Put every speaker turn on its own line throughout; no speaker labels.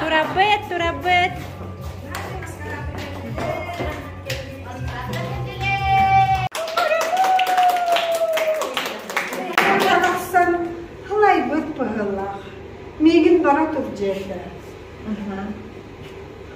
Турабыт, турабыт. Тахсан халайбыт быһылах. Миигин бара тур дьиэтэ.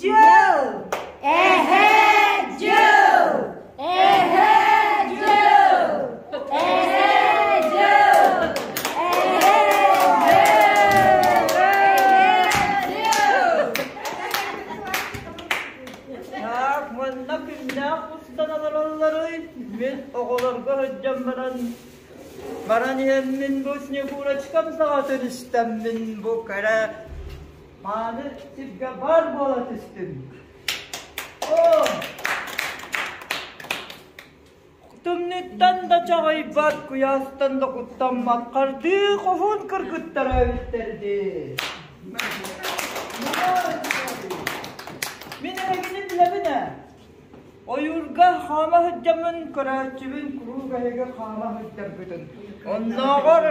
Дьыл! Эһэ дьыл! Эһэ дьыл! Эһэ дьыл! Так, манна күннээх устан олороллоруй, мин оҕолорго сылдьан баран баран иһэммин бу Снегурочкам саҕатын истэммин бу кэрэ Мааны сиргэ баар буола түстүм. Оо! Тымныыттан да чаҕыйбат, куйаастан да куттаммат хардыы хоһуун кыргыттара үстэрдии. Мин эһигини билэбин ээ. Ойуурга хаама сылдьаммын, көрөөччүбүн куруук эһиги хаама сылдьаргытын. Оннооҕор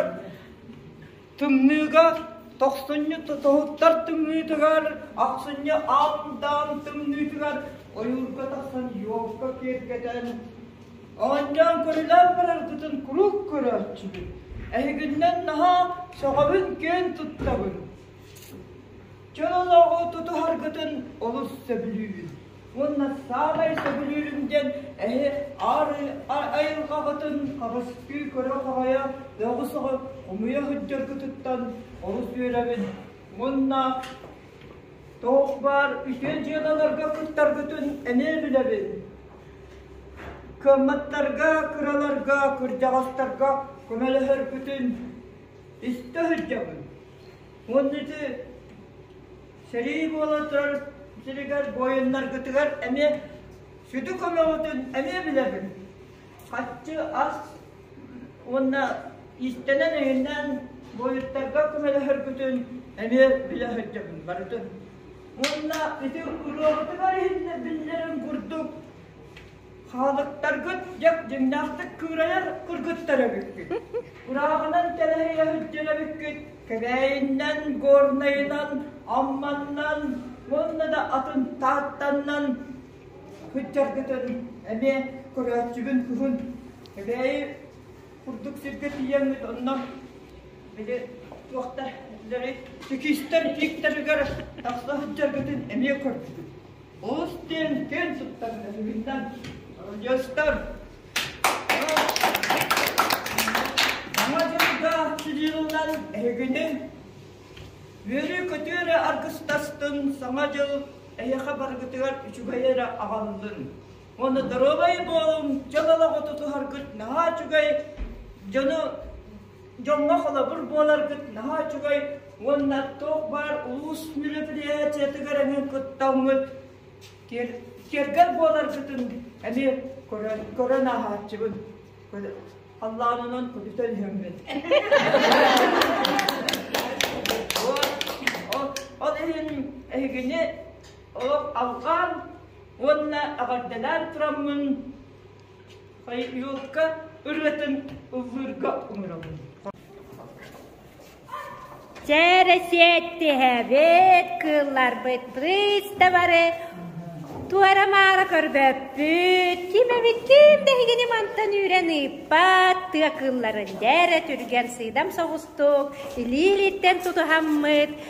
Тымныыга тохсунньу тоһуттар тымныытыгар, ахсынньы аалдаан тымныытыгар ойуурга тахсан юбка киэргэтэн, оонньоон көрүлээн бараргытын куруук көрөөччүбүн. Эһигиннэн наһаа сөҕөбүн киэн туттабын. Чөл олоҕу тутуһаргытын олус сөбүлүүбүн. уонна саамай сөбүлүүрүм диэн эһи аарыы айылҕаҕытын хабыстыы көрө-хоһойо өҕү соҕып умуйа сылдьаргытыттан олус үөрэбин уонна туох баар үтүө дьыалаларга кыттаргытын эмиэ билэбин кыамматтарга кыраларга кырдьаҕастарга көмөлөһөргүтүн истэ сылдьабын уонна ити Сэрии буола турар сиригэр буойуннаргытыгар эмиэ сүдү көмөҕүтүн эмиэ билэбин. Хаччы ас уонна иистэнэн иһиннэн буойуттарга көмөлөһөргүтүн эмиэ билэ сылдьабын барытын. Уонна ити уруогутугар иһиннэ биллэрин курдук Хаалыктаргыт дьэк дьиҥнээхтик кыырайар кыргыттар эбиккит. Курааҕынан тэлэһийэ сылдьар эбиккит. Кэбээйиннэн, Горнайынан, Амманнан уонна да атын Тааттаннан сылдьаргытын эмиэ көрөөччүбүн кыһын. Кэбээйи курдук сиргэ тиийэҥҥит онно били туохтар сикистэр ииктэригэр тахса сылдьаргытын эмиэ көрдүбүт. Уус диэн киэн туттар эсигиттэн радиостар Саҥа дьылга сидиилынан эһигитин үөрүү-көтүү эрэ аргыстастын Саҥа дьыл эйэхэ баргытыгар үчүгэй эрэ аҕаллын уонна доруобай буолуҥ дьыл олоҕу тутуһаргыт наһаа үчүгэй дьону дьоҥҥо холобур буоларгыт наһаа үчүгэй уонна туох баар улуус мероприятиетыгар эҥин кыттаҥҥыт киэргэл буоларгытын эмиэ көрөн көрөн ааһааччыбын халлаан онон көтүтэн иһэммит ол иһин эһигини олох алҕаан уонна эҕэрдэлээн тураммын Хайыылка ырыатын ыллыырга умурабын. Чээрэ сиэттиһэбит кыылларбыт приставары туора-маара көрбөппүт. Ким эбит ким тэһигини мантан үүрэн ыыппат тыа кыылларын дээрэ түргэн сыыдам соҕустук илиилиттэн тутуһаммыт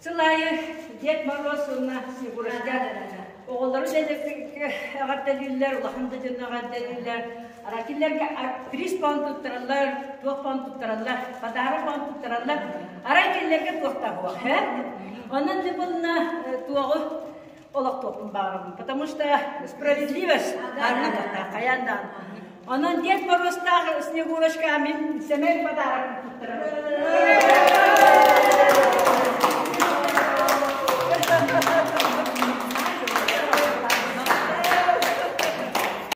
Сыл аайы Дед Мороз уонна Снегуродянаны оҕолору эҕэрдэлииллэр, улахан да дьонно эҕэрдэлииллэр. Аракиллерге приз пон туттараллар, туох пон туттараллар, подарок пон туттараллар. Арай кинилэргэ туохта буох, һэ? Онон да булна туоҕу олохтуохпун баҕарабын, потому что справедливость аннан тахтаах хайаан да Онон диэт боруостаах Снегурочка мин сэмэй подаракын туттарарым.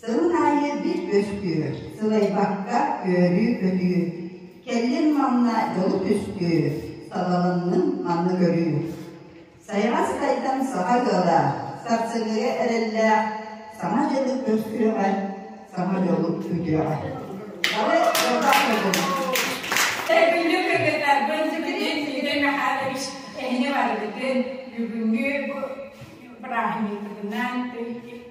Сылын аайы биир күөстүүр, сылайбакка үөрүү-көтүү. Кэллим манна дьолу түстүү, сабалынным манны көрүү. Сайаҕас тайдам саха ыалаах, сарсыҥҥыга эрэллээх, саҥа дьылы көрсүөҕэ, саҥа дьолу күтүөҕэ. Бары ордук көрдүҥ. Бүлүү кыргыттарбын сүгүрүн сүгүрүн Махатович кэһине барбытын бүгүҥҥү бу бырааһынньыкпытынан